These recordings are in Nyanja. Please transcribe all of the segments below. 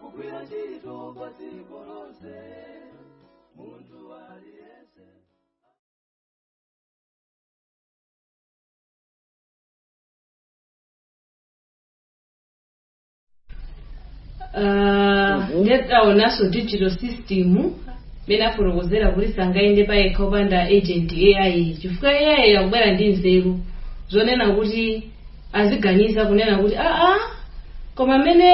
kugwira ntchito kwa dziko lonse munthu aliyense Ah, nde taonanso digital system mmene afotokozera kuti sangayende payekha popanda agent ai chifukwa ai akubwera ndi nzeru zonena kuti aziganiza kunena kuti aa koma amene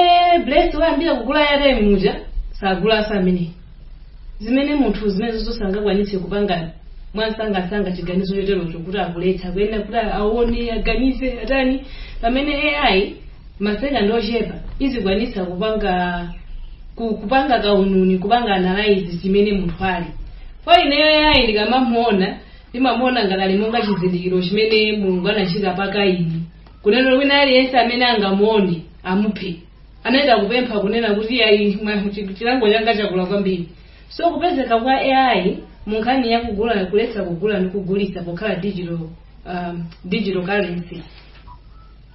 bless wayambira kugula airtime muja sagulanso ameneyi zimene munthu zimene zoti sangakwanitse kupanga mwansangasanga chiganizo choterocho kuti akuletsa ayenera kuti aone aganize atani pamene ai masekandi ochepa izikwanitsa kupanga ku- kupanga kaununi kupanga analyze chimene munthu ali kwa ineyo ai ndikamamuona ndimamuona ngati ali monga chizindikiro chimene mulungu anachita pa kaini kunena wina aliyense amene angamuone amuphe anayamba kupempha kunena kuti ayi mwa- chi- chilango changa chakula kwambiri so kupezeka kwa ai mu nkhani ya kugula kuletsa kugula ndi kugulitsa pokhala digital um, digital currency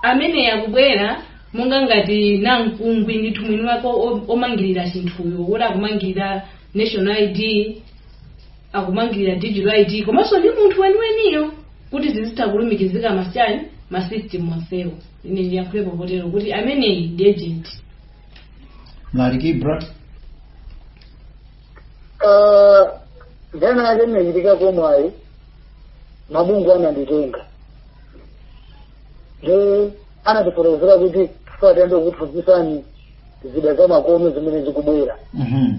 amene akubwera monga ngati namkungwi ndithu mwini wake o- omangirira chinthuyo kuti akumangirira national id akumangirira digital id komanso ndi munthu weniweniyo kuti zizitha kulumikizika mazi- ujeni masystem onsewo ine ndiyankhulepo potero kuti ameneyi ndi agent mlaliki ibra Ah, nthawi ina yake ndinachitako mwayi mabungu ananditenga nde anatifotokozera kuti tifuna tikuphunzitseni zida za makono zimene zikubwera Mhm.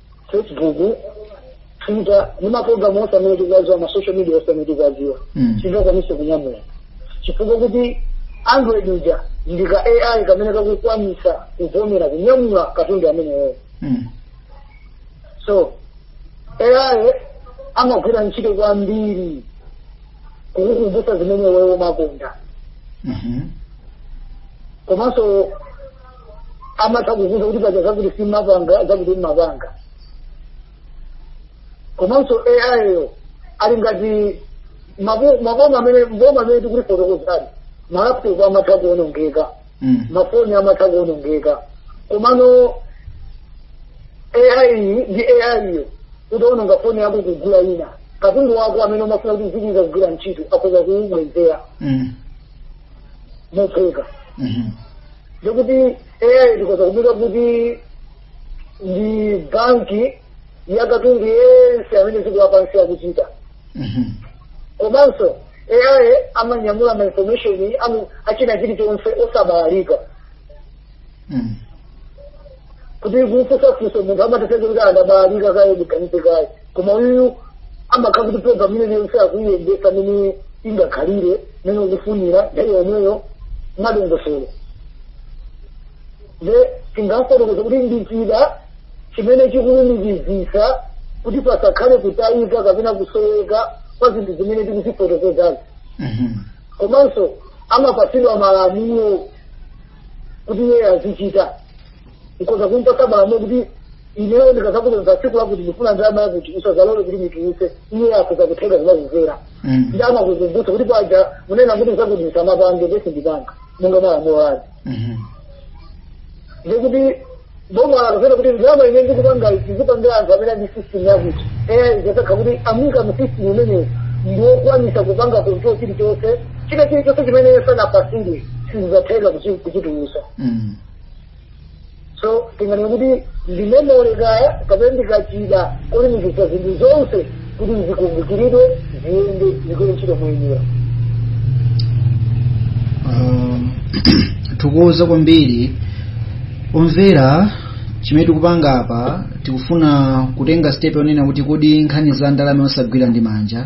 facebook twitter ndi maprogramu onse amene tikuwadziwa ma social media onse amene tikuwadziwa Mm. singakwanise kunyamula chifukwa kuti android uja ndi ka ai kamene kakukwanisa kuvomera kunyamula katundu ameneyuyo Mm. so ai amagwira ntchito kwambiri kukukumbutsa zimene iweyo umakonda Mhm. komanso amatha kukuuza kuti paja zakuti simmapanga zakuti mmapanga komanso ai yo ali ngati mabu- maboma amene mboma amene tikuti fotokozali malaptop amatha kuonongeka Mm. mafoni amatha kuonongeka komano ai ndi ai yo utaononga foni yako kugula ina katundu wako amene umafuna kuti zikuiza kugwira ntchito akhoza kuubwezera Mm. mophweka Mhm. ndikuti ai ndikhoza kuyika kuti ndi banki ya katundu yense amene dziko lapansi akuchita Mhm. komanso ai amanyamula ma information amnji achina chilichonse osabalalika Mm. kuti kufusafusa munthu amatheka kuti abalalika kaye ndiganize kaye koma uyu amakhala kuti program imene yonse akuyiyendesa mene ingakhalire mene ukufunira nthawi yomweyo madongosolo nde tingafotokoza kuti ndichida chimene chikulumikizisa kuti pasakhale kutayika kapena kusoweka kwa zinthu zimene tikuzifotokozazi Mhm. komanso amapatsidwa malamulo kuti iye azichita nkoza kumpatsa malamulo kuti ineyo ndikazakuuza tsiku lakuti ndifuna ndalama yakuti usazalole kuti nditulutse iye akoza kutheka kumakumvera Mm. nde amakukumbutsa kuti paja munena kuti zakuti ndisamapange ndiye sindipanga monga malamulo ake Mhm. ndikuti boma akufuna kuti ndalama imene ndikupanga izipangire anthu amene ali mu system yakuti eya izasakha kuti amuika mu system imeneyo ndiwokwanisa kupanga control chilichonse china chilichonse chimene sanapasire sizizatheka kuchi- kuchitulusa Mm. so tinganene kuti ndi memory kaya kapena ndikachida cholumikiza zinthu zonse kuti zikumbukiridwe ziyende zigwire ntchito moyenera Um, tikuwuza kwambiri omvera chimene tikupanga apa tikufuna kutenga step yonena kuti kodi nkhani za ndalama yosagwira ndi manja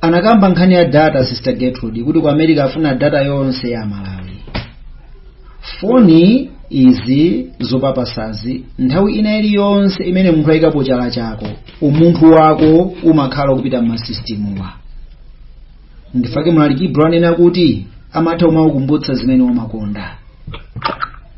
anakamba nkhani ya data sister gertrude kuti ku america afuna data yonse ya malawi foni izi zopapasazi nthawi ina iliyonse imene munthu ayikapo chala chako umunthu wako umakhala kupita m'masisitimuwa ndi chifukwa chake mlaliki brown anena kuti amatha kumakukumbutsa zimene wamakonda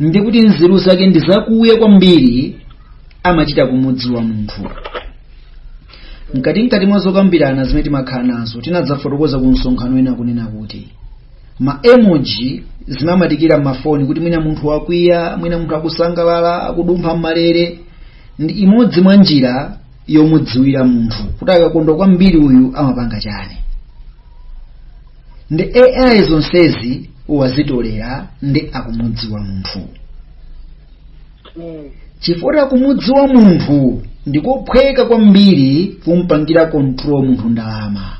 ndi kuti nzeru zake ndi zakuya kwambiri amachita kumudziwa munthu mkatimkati mwa zokambirana zimene timakhala nazo tinadzafotokoza ku msonkhano wina kunena kuti ma emoji timamatikira m'mafoni kuti mwina munthu wakwiya mwina munthu akusangalala akudumpha m'malere ndi imodzi mwa njira yomudziwira munthu kuti akakondwa kwambiri uyu amapanga chani nde ai zonsezi wazitolera nde akumudziwa munthu Mm. chifukwa kumudziwa munthu ndikophweka kwambiri kumpangira control munthu ndalama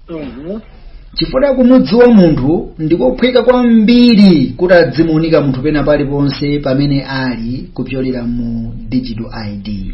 Mhm. chifukwa kumudziwa munthu ndikophweka kwambiri kuti adzimuunika munthu pena paliponse pamene ali kupyolera mu digital id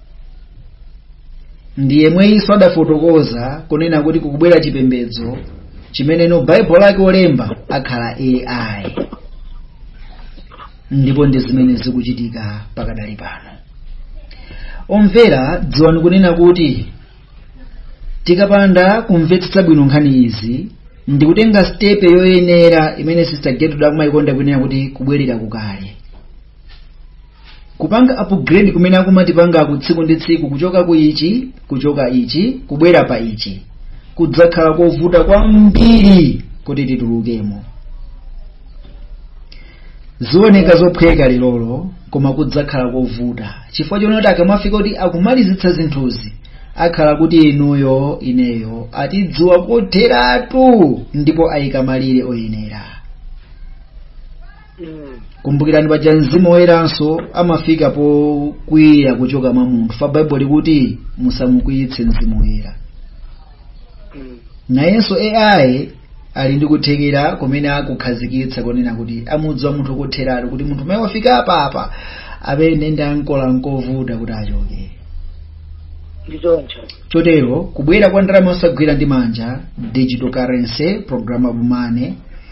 ndi yemweyinso adafotokoza kunena kuti kukubwera chipembedzo chimeneno baibulo lake olemba akhala ai ndipo ndi zimene zikuchitika pakadali pano omvera dziwani kunena kuti tikapanda kumvetsetsa bwino nkhani izi ndi kutenga stepe yoyenera imene sister gertrude akumayikonda kunena kuti kubwerera kukale kupanga upgrade kumene akumatipanga ku tsiku ndi tsiku kuchoka ku ichi kuchoka ichi kubwera pa ichi kudzakhala kovuta kwambiri kuti titulukemo zioneka zophweka lero koma kudzakhala kovuta chifukwa chonoti akamafika kuti akumalizitsa zinthuzi akhala kuti inuyo ineyo atidziwa kotheratu ndipo ayika malire oyenera kumbukirani paja mzimu woyeranso amafika pokwiya kuchoka mwa munthu pa baibulo likuti musamukwiyitse mzimu woyera nayenso ai ali ndi kuthekera kumene akukhazikitsa konena kuti amudziwa munthu kotheratu kuti munthu ameneyu wafika apapa amene ndi ankolo nkovuta kuti achoke ndichoncho chotero kubwera kwa ndalama osagwira ndi manja digital currency programmable money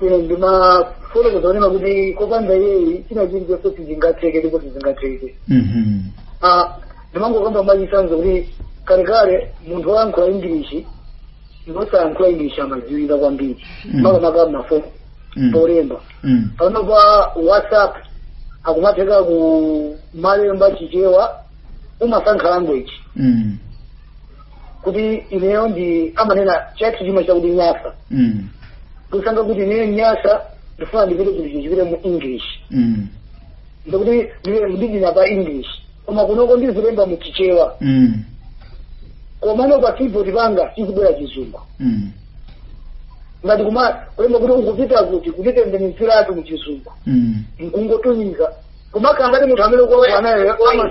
ine ndimafuna kuzanena kuti kopanda iyeyi china chilichonse sizingatheke ndipo sizingatheke Mhm. Ah, ndimangokamba mwachisanzo kuti kalekale munthu woyankhula ingilishi ndi osayankhula ingilishi amadziwika kwambiri Mm. makamaka mafoni Mm. polemba Mm. pano pa whatsapp akumatheka kumalemba chichewa umasankha language Mm. kuti ineyo ndi amanena chathu chima chakuti nyasa mm. usankha kuti ineyo nyasa ndifuna ndipite kuti chichipite mu english mm. ndikuti ndidina pa english koma kunoko ndizilemba mu chichewa mm. komano pa keyboard panga chizibwera chizungu mm. ngati kumalemba kuti ukupita kuti kutitembenuziratu mu chizungu mm. nkungotumiza kumakhala ngati munthu amene ukuuza nayo ama-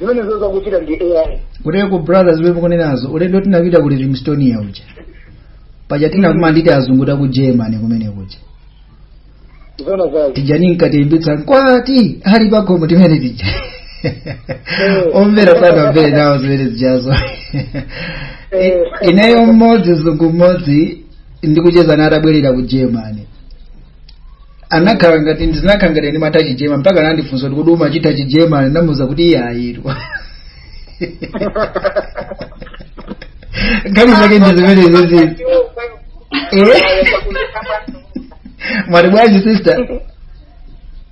zimenezo zakuchita ndi ai kuteko brothers wewe kunenazo ulendo tinapita ku livingstonia uja paja tinakumana ndi tiazungu taku germany kumene kuja zona zake tijani nkatembetsa nkwati ali pagomo timene tija omvera sanamvere nawo zimene zijazo Eh. ineyo mmodzi mzungu mmodzi ndikucheza naye atabwerera ku germany anakhala ngati ndinakhala ngati ndimatha Chijeremani mpaka anandifunsa kuti kodi umachitha Chijeremani ndinamuza kuti iye wayiwala nkhani zake ndi zimenezo izi mwati bwanji sister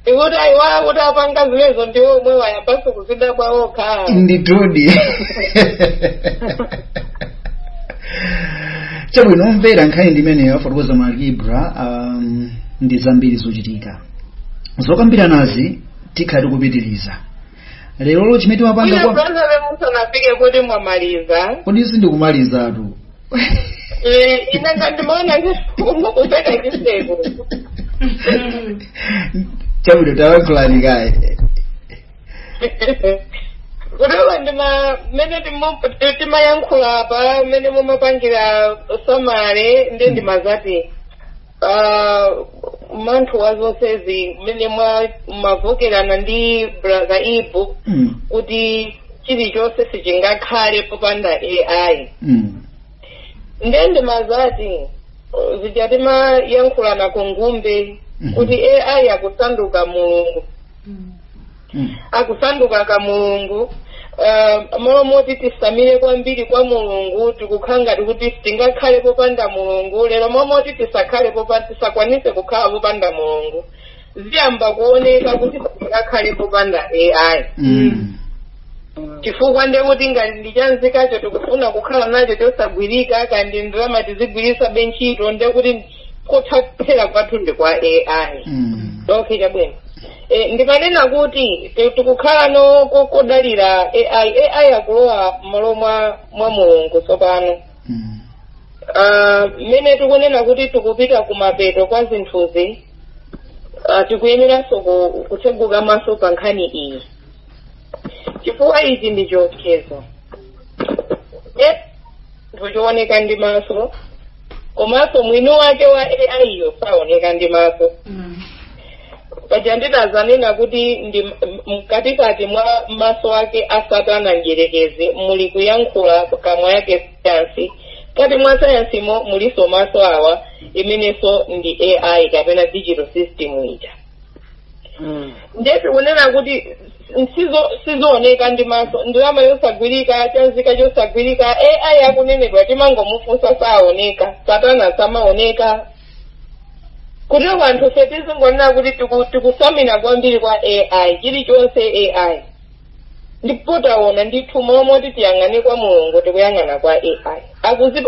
ikuti ayiwala kuti apanga zimenezo ndi omwe wayambanso kuzidabwa okhaa nditudi chabwino omvera nkhani ndi imeneyo afotokoza malibra um, ndi zambiri zochitika zokambiranazi tikhala tikupitiriza lero chimene timapanga ine kwa brother musanafike kuti mwamaliza kodi sindikumalizatu Eh, ine ngati ndimaona kuseka chiseko chabwino tayankhulani kaye kutoka ndi ma mmene timu- ti- timayankhula apa mmene mumapangira summary ndiye ndimadzati Ah, mathero a zonsezi mmene mwa- mwavomerezana ndi brother ibu Mm. kuti chilichonse sichingakhale popanda ai Mm. ndiye ndimadzati uh, zija timayankhulana ku ngumbe Mhm. kuti ai akusanduka mulungu akusanduka ka mulungu uh, mmalo moti titsamire kwambiri kwa mulungu tikukhala ngati kuti tingakhale popanda mulungu lero mmalo moti tisakhale popa tisakwanise kukhala popanda mulungu ziyamba kuoneka kuti sitingakhale popanda ai Mm. chifukwa nde kuti ngati ndi cha nzikacho tikufuna kukhala nacho chosagwirika kaya ndi ndalama tizigwiritsa be ntchito nde kuti kothathera kwathu ndi kwa ai Mm. okay chabwino e, ndimanena kuti ti- tikukhala no ko- kodalira ai ai akulowa mmalo mwa mwa mulungu tsopano Mm. Ah, mmene tikunena kuti tikupita kumapeto kwa zinthuzi ah, tikuyeneranso ku- kutseguka maso pa nkhani iyi chifukwa ichi ndi chiopsezo Eh, chinthu chooneka ndi maso komanso mwini wake wa ai yo saoneka ndi maso paja ndinadzanena kuti ndi m- m- mkatikati mwa maso ake a satana mdyerekezi muli kuyankhula kamwa yake sayansi mkati mwa sayansimo mulinso maso awa imenenso ndi ai kapena digital system ija nde tikunena kuti Sizo- sizooneka ndi maso ndalama yosagwirika cha nzika chosagwirika ai akunenedwa timangomufunsa saoneka satana samaoneka kutero kwa anthufe tizingoona kuti tiku- tikutsamira kwambiri kwa ai chilichonse ai ndipo taona ndithu mmalo moti tiyang'ane kwa mulungu tikuyang'ana kwa ai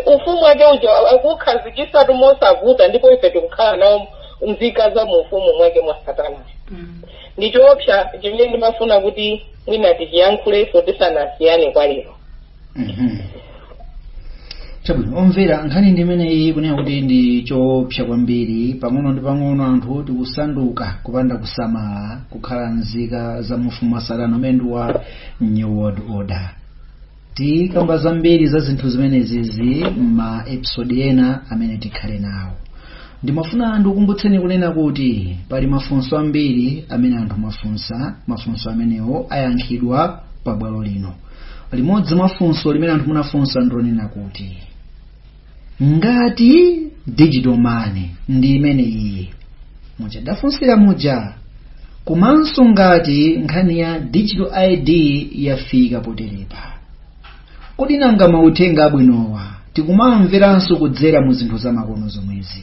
ufumu wake uja akukhazikitsatu mosavuta ndipo ife tikukhala nawo nzika za mu ufumu mwake mwa satana ndi choopsa chimene ndimafuna kuti mwina tichiyankhulenso tisanasiyane kwa lero Mhm. chabwino omvera nkhani ndi imeneyi kunena kuti ndi choopsa kwambiri pang'ono ndi pang'ono anthu tikusanduka kupanda kusamala kukhala nzika za mu ufumu wa satana umene ndi wa new world order tikamba zambiri za zinthu zimenezizi ma episode ena amene tikhale nawo ndimafuna ndikukumbutseni kunena kuti pali mafunso ambiri amene anthu mwafunsa mafunso amenewo ayankhidwa pa bwalo lino limodzi mwa funso limene anthu munafunsa ndi lonena kuti ngati digital money ndi imene iyi mudafunsira muja komanso ngati nkhani ya digital id yafika poterepa kodi nanga mauthenga abwinowa tikumawamveranso kudzera mu zinthu zamakono zomwezi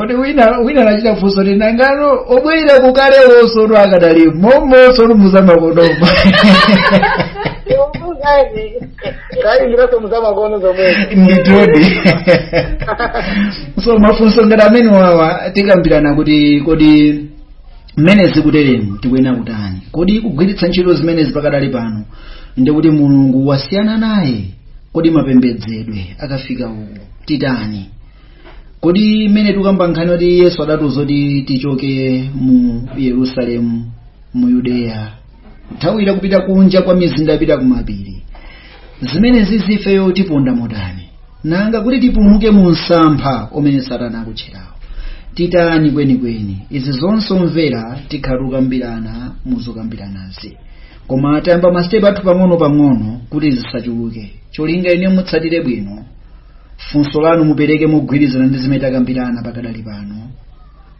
kuti wina wina anachita funso kuti nangano obwerera kukale wosonu akadali momo wosonu muzamakonomo kali ndiraso muzamakono zomwezi nditodi so mafunso ngati amenewawa tikambirana kuti kodi mmene zikuteremu tikuyenera kutani kodi kugwiritsa ntchito zimenezi pakadali pano ndikuti mulungu wasiyana naye kodi mapembedzedwe akafika uku titani kodi mmene tikamba nkhani kuti yesu adatiuza kuti tichoke mu yerusalemu mu yudeya nthawi ya kupita kunja kwa mizinda kupita kumapiri zimenezizi ifeyo tiponda motani nanga kuti tipulumuke mu msampha umene satana akutcherawo titani kwenikweni izi zonse omvera tikhala tikukambirana muzokambiranazi koma tayamba masitepe athu pang'ono-pang'ono kuti zisachuluke cholinga inu mutsatire bwino funso lanu mupereke mogwirizana ndi zimene takambirana pakadali pano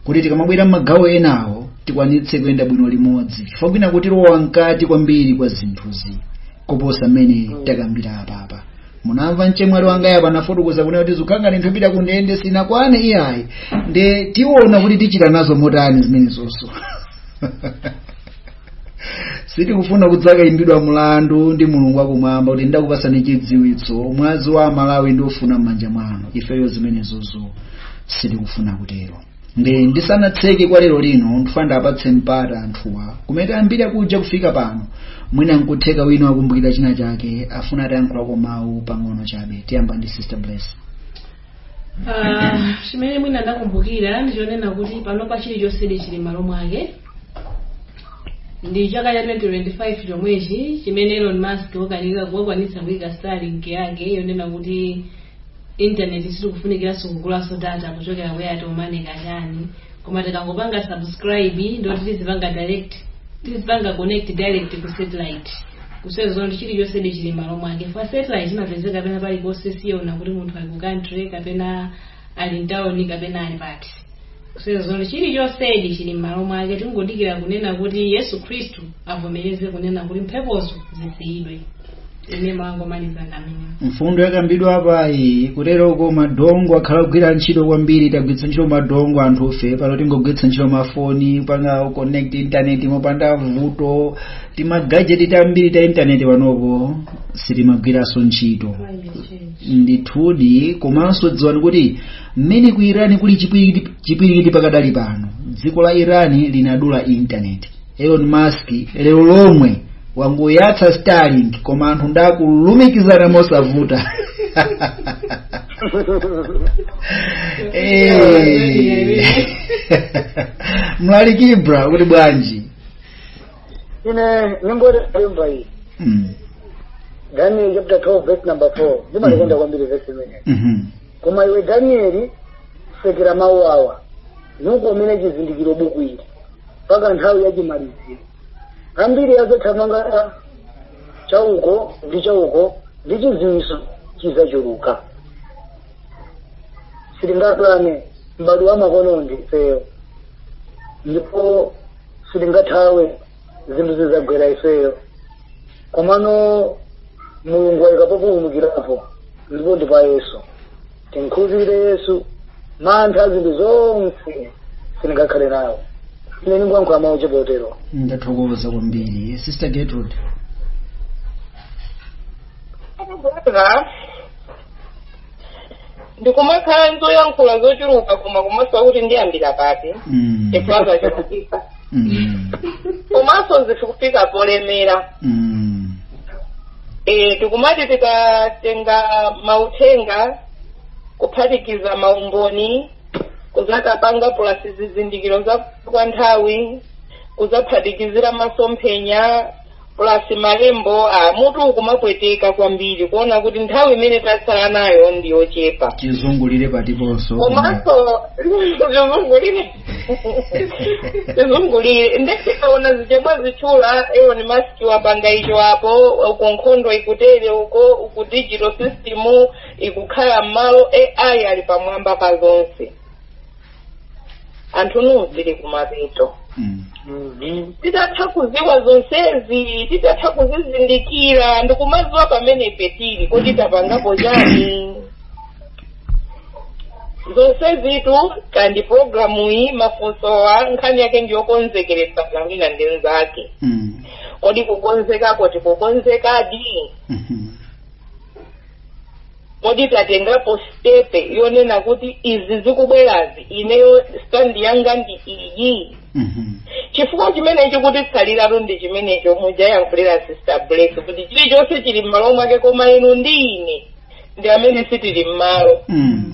kuti tikamabwera m'magawo enawo tikwanitse kuyenda bwino limodzi chifukwa kwina kuti tilowa mkati kwambiri kwa zinthuzi kuposa mmene takambira apapa munamva mchemwali wangayu apa anafotokoza kunena kuti zikukhala ngati kupita ku ndende sinakwane iyayi nde tiona kuti tichita nazo motani zimenezonso sitikufuna kudzakayimbidwa mulandu ndi mulungu wakumwamba kuti ndakupasani chidziwitso mwazi wa amalawi ndidzaufuna m'manja mwanu ifeyo zimenezozo sitikufuna kutero ndisanatseke kwa lero lino ndifuna ndiwapatse mpata anthuwa kumene tayambira kuja kufika pano mwina nkutheka wina wakumbukira china chake afuna atayankhulako mawu pang'ono chabe tiyamba ndi sister bless Ah, chimene mwina ndakumbukira ndichonena kuti panopa chilichonse chili malo mwake ndi chaka cha 2025 chomwechi chimene elon musk wakwanitsa kuyika starlink yake yonena kuti intaneti sitikufunikiranso kugulanso data kuchokera ku airtel money kachani koma tikangopanga subscribe ndiye kuti tizipanga direct tizipanga connect direct ku satellite kusonyeza zoti chilichonsedi chili malo mwake chifukwa satellite imapezeka pena paliponse siyiona kuti munthu ali ku country kapena ali mtauni kapena ali pati kusonyeza chilichonsedi chili m'malo mwake tingodikira kunena kuti yesu khristu avomereze kunena kuti mphepozo zisiyidwe ine mongomaliza ngati mmene mfundo yakambidwa apayi kuteroko ma dongle akhala akugwira ntchito kwambiri tagwiritsa ntchito ma dongle anthufe pano tingogwiritsa ntchito mafoni kupanga connect internet mopanda vuto timagajeti tambiri ta internet panopo sitikugwiranso ntchito ndithudi komanso dziwani kuti mmene ku irani kuli chipwirikiti pakadali pano dziko la irani linadula intaneti elon musk lero lomwe wangoyatsa starlink koma anthu ndakulumikizana mosavuta Eh. mlaliki ibra mukuti bwanji ine nyimbo yemba iyi Mm. daniel chapter 12 verse number 4 ndimaikonda kwambiri verse imeneyi Mhm. koma iwe danieli sekera mawu awa nukomere chizindikiro buku ili mpaka nthawi ya chimaliziro ambiri azathamanga chauko ndi chauko ndi chiziwiso chizachuluka sitingakane m'bado wa makono ndifeyo ndipo sitingathawe zinthu zizagwera ifeyo komano mulungu wayika populumukirapo ndipo ndi pa yesu timukhulupirire yesu mantha zinthu zonse sitingakhale nawo ine ndingoyankhula mawu ochepa otero ndathokoza kwambiri sister gertrude Brother, ndikumakhala ndi zoyankhula zochuluka koma kumasowa kuti ndiyambira pati Mm. chifukwa zachulukisa Mm. komanso zikufika polemera Mm. e, tikumati tikatenga mauthenga kuphatikiza maumboni kuzatapanga pulasi zizindikiro za kwa nthawi kuzaphatikizira masomphenya plus malembo a mutu ukumapweteka kwambiri kuona kuti nthawi imene tatsala nayo ndi yochepa chizungulire patiponso komanso zizungulire zizungulire ndetikaona zija abwera atchula Elon Musk wapanga icho apo uko nkhondo ikutere uko uku digital system ikukhala m'malo AI ali pamwamba pa zonse anthuni zili kumapeto Mm. Mhm. titatha kuziwa zonsezi titatha kuzizindikira ndikumaziwa pamene ife tili kodi tapangapo chani zonsezitu ndi programu iyi mafunsowa nkhani yake ndiyokonzekeretsa wina ndi nzake Mm. kodi kukonzekako tikukonzekadi Mhm. kodi tatengapo stepe yonena kuti izi zikubwerazi ineyo stand yanga ndi iyi Mhm. chifukwa chimene chikutitsaliratu ndi chimenecho muja ayankhulira sister bless kuti chilichonse chili m'malo mwake koma inu ndi ine ndi amene sitili m'malo Mm.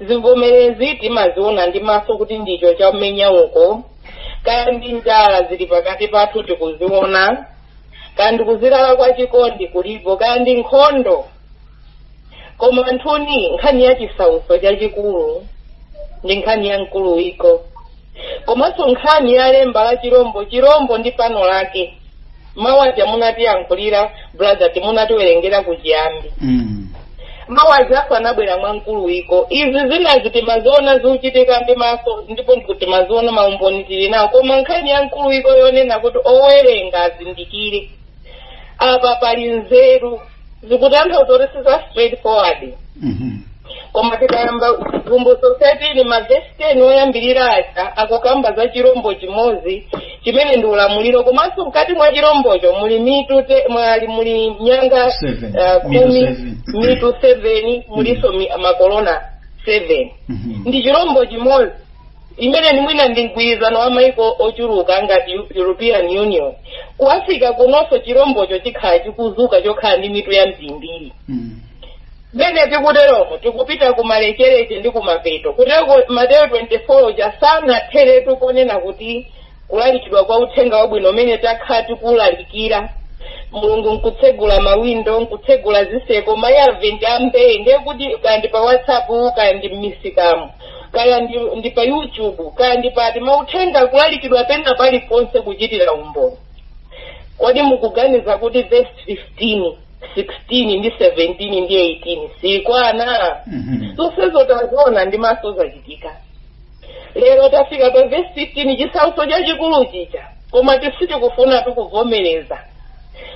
zivomerezi timaziona ndi maso kuti ndicho chamenya uko kaya ndi njala zili pakati pathu tikuziona kaya ndi kuzilala kwa chikondi kulipo kaya ndi nkhondo koma anthuni nkhani ya chisautso chachikulu ndi nkhani ya mkuluwiko komanso nkhani ya lemba la chirombo chirombo ndi pano lake mawu aja munatiyankhulira brother timunatiwerengera kuchiyambi Mm. mawu aja anabwera mwa mkuluwiko izi zinazi timaziona zikuchitika ndi maso ndipo ndikuti timaziona maumboni tili nawo koma nkhani ya mkuluwiko yonena kuti owerenga azindikire apa pali nzeru zikutanthauza kuti si za straight forward Mhm. koma tikayamba vumbutso satini mavesi 10 oyambirira aja akukamba za chirombo chimodzi chimene ndi ulamuliro komanso mkati mwa chirombocho muli mitu te- mwali muli nyanga khumi mitu 7 mulinso mi- makolona 7 Mhm. ndi chirombo chimodzi imene ndi mwina ndi mgwirizano wa maiko ochuluka ngati Eu- european union ku africa kunonso chirombocho chikhala chikuzuka chokhala ndi mitu yambirimbiri Mm. mene tikuteromo tikupita kumalekezero ndi kumapeto kutero mateyo 24 uja usanatheretu ponena kuti kulalikidwa kwa uthenga wabwino umene takhala tikulalikira mulungu nkutsegula mawindo nkutsegula ziseko ma avenue ambiri ndiye kuti kaya ndi pa whatsapp kaya ndi mmisikamu kaya ndi, ndi pa youtube kaya ndi pati mauthenga kulalikidwa pena paliponse kuchitira umboni kodi mukuganiza kuti verse 15 16 ndi 17 ndi 18 sikwana Mhm. zonsezo taziona ndi maso zachitika lero tafika pa verse 15 chisautso chachikulu chija koma sitikufuna tikuvomereza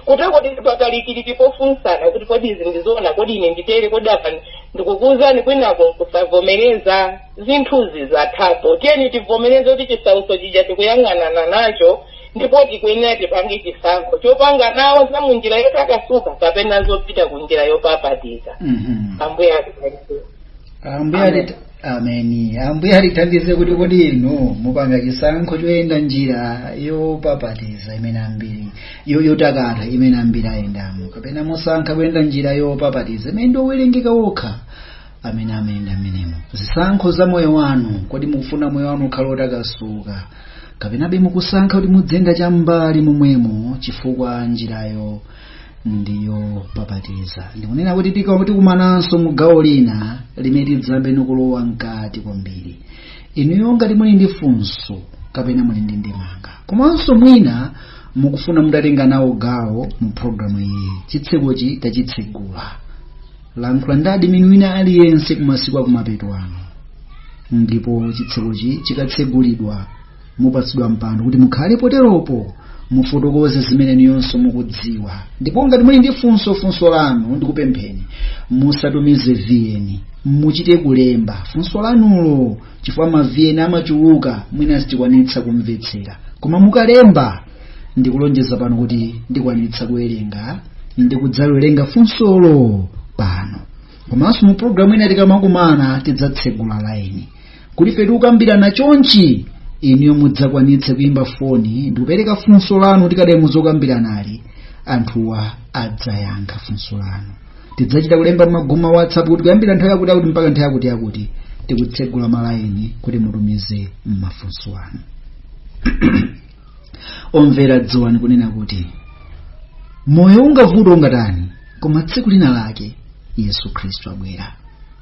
kuteroko tili pakalikiliki pofunsana kuti kodi izi ndizoona kodi ine nditere kodi apa ndikukuuzani kwinako kusavomereza zinthuzi zathapo tiyeni tivomereze kuti chisautso chija tikuyang'anana nacho ndipo tikuyenera tipange chisankho chopanga nawo za munjira yotakasuka kapena zopita ku njira yopapatiza Mhm. ambuye ambuye ameni ambuye atithandize kuti kodi inu mupanga chisankho choyenda njira yopapatiza imene ambiri yo- yotakata imene ambiri ayendamo kapena musankha kuyenda njira yopapatiza imene ndi owerengeka okha amene amayenda mmenemo zisankho za moyo wanu kodi mukufuna moyo wanu ukhale otakasuka kapenabe mukusankha kuti muziyenda cham'mbali momwemo chifukwa njirayo ndi yopapatiza ndikunena kuti tika- tikumananso mu gawo lina limene tidzayambe ndikulowa mkati kwambiri inuyo ngati muli ndi funso kapena muli ndi ndemanga komanso mwina mukufuna mutatenga nawo gawo mu programu iyi chitsekochi tachitsegula lankhula ndi admin wina aliyense kumasiku akumapeto ano ndipo chitsekochi chikatsegulidwa mupatsidwa mpando kuti mukhale poteropo mufotokoze zimene inuyonso mukudziwa ndipo ngati muli ndi funso funso lanu ndikupempheni musatumize VN muchite kulemba funso lanulo chifukwa ma VN amachuluka mwina sitikwanitsa kumvetsera koma mukalemba ndikulonjeza pano kuti ndikwanitsa kuwerenga ndikudzawerenga funsolo pano komanso mu programu ina tikamakumana tidzatsegula laini kuti ife tikukambirana chonchi inuyo mudzakwanitse kuyimba foni ndikupereka funso lanu tikadali muzokambiranazi anthuwa adzayankha funso lanu tidzachita kulemba mmagulu a whatsapp kuti kuyambira nthawi yakuti yakuti mpaka nthawi yakuti yakuti tikutsegula malayini kuti mutumize mafunso anu omvera dziwani kunena kuti moyo ungavuta ungatani koma tsiku lina lake yesu khristu abwera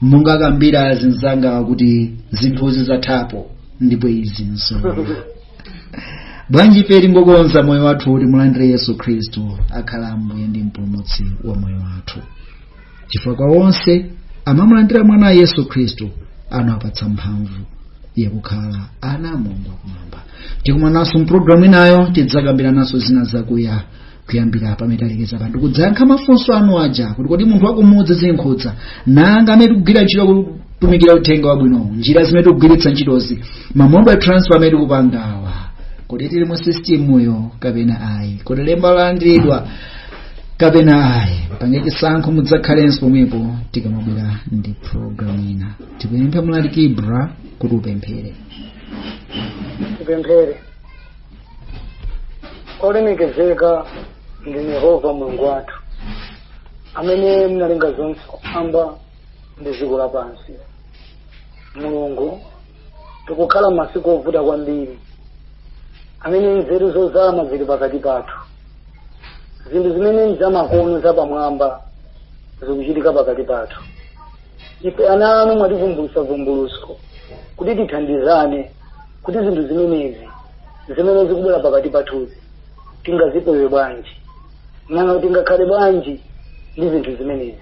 monga akambira azinzanga kuti zinthuzi zathapo ndipo izi nzoona bwanji ife tingokonza moyo wathu kuti timulandire yesu khristu akhale ambuye ndi mpulumutsi wa moyo wathu chifukwa kwa onse amamulandira mwanayo yesu khristu anawapatsa mphamvu yakukhala ana a mulungu akumwamba tikumananso mpulogalamu inayo tidzakambirananso zina zakuya kuyambira pamene talekeza pano tikudzayankha mafunso anu aja kuti kodi munthu wakumudzi zikumkhudza nanga amene tikugwira ntchito kutumikira uthenga wabwinowu njira zimene tikugwiritsa ntchitozi ma mode a transfer amene tikupangawa kodi tili mu sistimuyo kapena ayi kodi lemba talandira kapena ayi pangani chisankho mudzakhalenso pomwepo tikamabwera ndi programu ina tikupemphe mlaliki ibra kuti upemphere tipemphere olemekezeka ndinu yehova mulungu wathu amene mnalenga zonse kumwamba ndi dziko lapansi mulungu tikukhala mmasiku ovuta kwambiri amene nzeru zozama zili pakati pathu zinthu zimene nzamakono zapamwamba zikuchitika pakati pathu ife ana anu mwativumbulutsira vumbulutso kuti tithandizane kuti zinthu zimenezi zimene zikubwera pakati pathuzi tingazipewe bwanji nanga tingakhale bwanji ndi zinthu zimenezi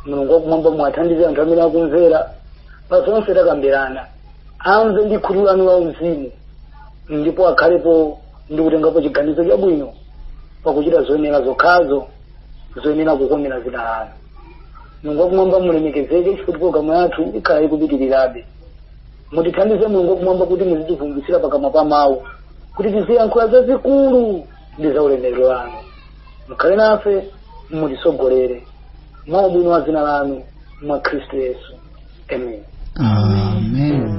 mulungu wakumwamba muwathandize anthu amene akumvera pa zonse takambirana amve ndi khutu lanu la uzimu ndipo akhalepo ndi kutengapo chiganizo chabwino pakuchita zoyenera zokhazo zoyenera kukomera dzina lanu mulungu wakumwamba mulemekezeke chifukwa programu yathu ikhala ikupitirirabe mutithandize mulungu wakumwamba kuti muzitivumbulutsira pakamwa pa mawu kuti tiziyankhula zazikulu ndi za ulemerero wanu mukhale nafe mutitsogolere mwa ubwino wa dzina lanu mwa khristu yesu amen amen